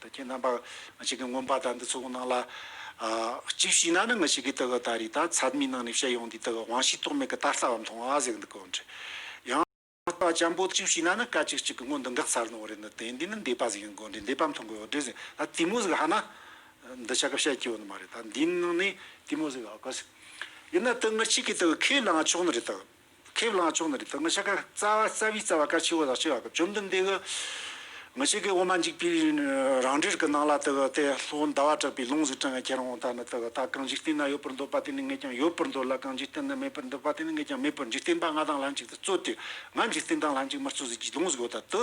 ད་ཁྱེད་རྣམ་པར་ང་ཞིག་གི་མངོན་པར་བརྡ་འདི་ཚོགས་གནང་ལ། གཅིག་ཞུས་ན་ནི་ང་ཞིག་གི་དེ་ག་ད་རེས་ད་ཚད་མའི་ནང་ནས་བཤད་ཡོང་དུས་དེ་ག་དབང་ཤེས་རྟོག་མེད་གི་ད་ལྟ་བ་མཐོང་བ་ཟེར་གི་འདུག་གོ་འདྲི། ཡང། ལྟ་བ་ཅན་པོ་གཅིག་ཞུས་ན་ནི་སྐད་ཅིག་གཅིག་གི་སྔོན་དུ་འགག་ཚར་ནོ་རེད་ནི་དེ་འདི་ནི་འདས་པ་ཟིག་ཡིན་གོ་འདྲི་འདས་པ་མཐོང་གི་འོ་འདྲི་ཟེར་ད་དེ་མོ་ཟིག་ཧ་ན། འདི་ཆ་གི་བཤད་ཀྱི་ཡོད་ནི་མ་རེད་ད་འདིའི་ནང་ནས་དེ་མོ་ཟིག་ཨ་ཁུ་ཟིག། ཡིན་ན་དེ་ངར་ཅིག་གིས་དེ་ག་ཁས་བླངས་ཆོག་ནི་རེད་དོ། ཁས་བླངས་ཆོག་ན་རིག་ཐོག་མི་ཤ་ཀ་རྩ་བ་རྩ་བའི་རྩ་བ་ཀ་ཆེ་བོ་ལག་ཆེ་བ་ཀ་བཅོམ་ལྡན་འདས་ཀྱི་མི་ཤེས་ཀྱི་འོ་མ་འཇིགས་པའི་རང་འགྲེལ་གྱི་ནང་ལ་དེ་ཀ་སྟེ་ལྷོ་ཟླ་བ་གྲགས་པའི་ལུང་གཟིགས་བྲང་ག་ཁྱེར་འོང་ད་ནི་དེ་ཀ་ད་གང་འཇིག་རྟེན་ན་ཡོད་པར་འདོད་པ་དེ་ནི་ངས་ཀྱང་ཡོད་པར་འདོད་ལ་གང་འཇིག་རྟེན་ན་མེད་པར་འདོད་པ་དེ་ནི་ངས་ཀྱང་མེད་པར་འཇིག་རྟེན་པ་ང་དང་ལྷན་ཅིག་ཏུ་རྩོད་དེ་ང་འཇིག་རྟེན་དང་ལྷན་ཅིག་མི་རྩོད་ཟིག་ཅེས་ལུང་གཟིགས་འོ་ད་དུ།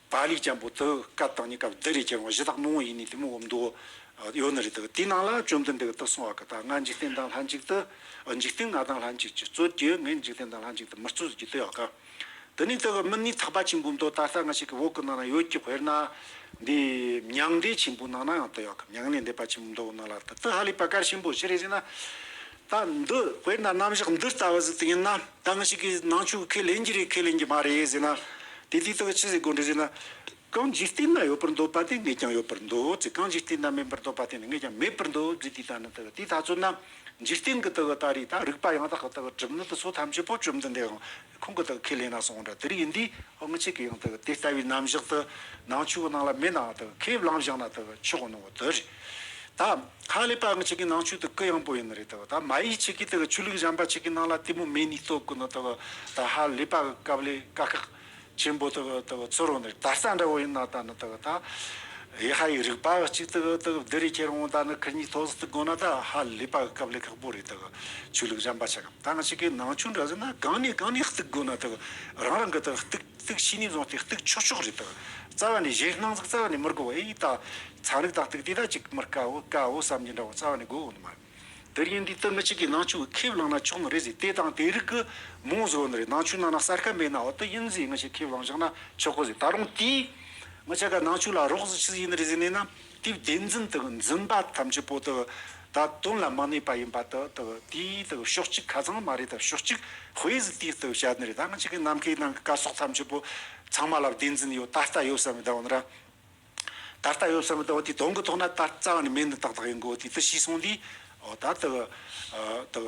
པཱ་ལིའི་སྤྱན་པོ་དེའི་སྐབས་དང་གཉིས་སྐབས་འདི་རེ་ཁྱེར་འོང་གཞི་དག་མང་བོ་ཡིན་ནི་དེ་མོ་འོ་མདོ་ཡོད་ནི་རེ་དག་དེའི་ནང་ལ་བཅོམ་ལྡན་འདས་གུ་དོག་སོང་བ་གི་དག་ང་འཇིག་རྟེན་དང་ལྷན་ཅིག་ཏུ་འཇིག་རྟེན་ང་དང་ལྷན་ཅིག་ཅི་རྩོད་ཀྱི་ངས་འཇིག་རྟེན་དང་ལྷན་ཅིག་ཏུ་མི་རྩོད་ཟེར་གྱི་དེ་ཡོད་གི། དེ་ནས་དེ་གི་མི་ནི་ཐག་པ་ཆེན་པོའི་མདོ་ད་ལྟ་ང་ཞིག་གི་འོག་གི་ནང་ན་ཡོད་ཀྱི་དཔེར་ན། འདི་མྱང་འདས་ཆེན་པོའི་ནང་ན་ཡང་དེ་ཡོད་གི་མྱང་ལས་འདས་པ་ཆེན་པོའི་མདོ་གི་ནང་ལ་དེ་དག་ཧ་ལས་པ་གར་ཆེན་པོ་ཞེས་རེ་ཟེར་ན། སྟངས་འདི་དཔེར་ན་རྣམ་གཞག་འདི་ལྟ་བུ་ཟིག་ཏུ་ཡིན་ན་གང་ཞིག་གིས་ནང་ཆོས་ཁས་ལེན་གྱི་རེད་ཁས་ལེན་གྱི་མ་རེད་ཟེར་ན། དེ་དུས་དག་ཅི་ཟེར་དགོས་འདུག་ཟེར་ན། གང་འཇིག་རྟེན་ན་ཡོད་པར་འདོད་པ་དེ་ངས་ཀྱང་ཡོད་པར་འདོད་ཅེས་གང་འཇིག་རྟེན་ན་མེད་པར་འདོད་པ་དེ་ནི་ངས་ཀྱང་མེད་པར་འདོད་རྒྱུ་དེ་ལྟ་ན་དེ་ལྟ་ཚུལ་ན། འཇིག་རྟེན་གྱི་དག་ལྟ་རེ་ད་རིག་པ་ཡང་དག་གི་དག་གྲུབ་ནི་དེ་ཚོ་ཐམས་ཅད་པོ་བཅོམ་ལྡན་འདས་དང། ཁོང་གི་དག་ཁས་ལེན་ན་སོང་འདྲ་དེར་ཡིན་དུས་ཨང་ཅིག་གི་ཡང་དག་དེ་ལྟ་བུའི་རྣམ་གཞག་དུ་ནང་ཆོས་ནང་ལ་མེད་ནའང་དག་ཁས་བླངས་བཞག་ན་དག་ཆོས་ནང་བ་དོ་རེད། ད་ཁ་ལས་པ་ཨང་ཅིག་གི་ནང་ཆོས་དུ་ཀི་ཡང་པོ་ཡིན་ནི་རེད་ད་མ་ཡིག་ཅིག་གི་དག་ཆོས་ལུགས་གཞན་པ་ཅིག་གི་ནང་ལ་དེ་མོ་མེ་ནི་རྟོགས་དགོས་ན་དག་ད་ཧ་ལས་པ་གི་སྐབས་ལས་དཀའ་ཁག་ཆེན་པོ་དག་དག་ཚོར་རོ་ནི་དར་ས་འདྲ་བོ་ཡིན་ན་ད་ནི་དག་ད་ཡེ་ཧ་ཡི་རིགས་པ་ཅིག་དག་དག་འདི་རེ་ཁྱེར་འོང་ད་ནི་ཁི་གཉིས་ཐོག་སི་ཏུ་དགོས་ན་ད་ཧ་ལས་པ་གི་སྐབས་ལས་ཁག་པོ་རེད་དག་ཆོས་ལུགས་གཞན་པ་ཅིག་ཐང་གཅིག་གི་ནང་ཆུ་འདྲ་ཟིན་ན་གང་ནས་གང་ནས་བརྟུག་དགོས་ན་དག་རང་རང་གི་དག་བརྟུག་བརྟུག་བྱས་ནས་བཟུང་སྟེ་བརྟུག་ཆོག་ཆོག་རེད་དག་རྩ་བ་ནས་གཞན་སྣང་ཚུལ་རྩ་བ་ནས་མི་དགོས་པ་ཨེ་ཡིན་དག་ཚན་རིག་དག་བརྟུག་དེ་དག་ཅིག་མི་དཀའ་འོ་དཀའ་འོ་བསམ་གྱི་འདྲ་བོ་རྩ་བ་ནས་དགོས་དགོས་ནི་མ་རེད་དེར་ཡིན་དུས་ཏང་གཅིག་གི་ནང་ཆུ་ཁས་བླངས་ན་ཆོག་ནི་རེད་ཟེར་དེ་དང་དེ་རིགས་ཀྱི་མོང་བཟོ་ནི་རེད་ནང་ཆུའི་ནང་ན་གསར་ཁ་མེད་ན་འོ་དེ་ཡིན་ཟེར་ངེད་ཅག་ཁས་བླངས་བཞག་ན་ཆོག་གོ་ཟེར་ད་རུང་དེས་ངེད་ཅག་གི་ནང་ཆུ་ལ་རོགས་ཟེར་ཆི་ཟེར་ཡིན་ནི་རེད་ཟེར་ནས་ན་དེའི་བདེན་འཛིན་དག་འཛིན་པ་ཐམས་ཅད་པོ་དག་ད་དོན་ལ་མ་གནས་པ་ཡིན་པ་དག་དག་དེའི་དག་ཕྱོགས་གཅིག་ཁ་ཚང་མ་རེད་དག་ཕྱོགས་གཅིག་དཔེ་ཟིག་དེའི་དག་བྱ་ནི་རེད་ད་ང་ཅིག་གི་ནམ་མཁའི་ནང་གི་སྐར་ཚོགས་ཐམས་ཅད་པོ་ཚང་མ་ལ་བདེན་འཛིན་ཡོད་ད་ལྟ་ཡོད་བསམ་མི་དང་བ་ན་ར་ད་ལྟ་ཡོད་བསམ་མི་དང་བ་དེའི་དོན་གི་ཐོག་ན་ད་རྩ་བ་ནས་མེད་འདི་དག་དག་ཡིན་དགོས་དེ་དག་ཤེས་སོང་དུས་ཨོ་ད་དག་དག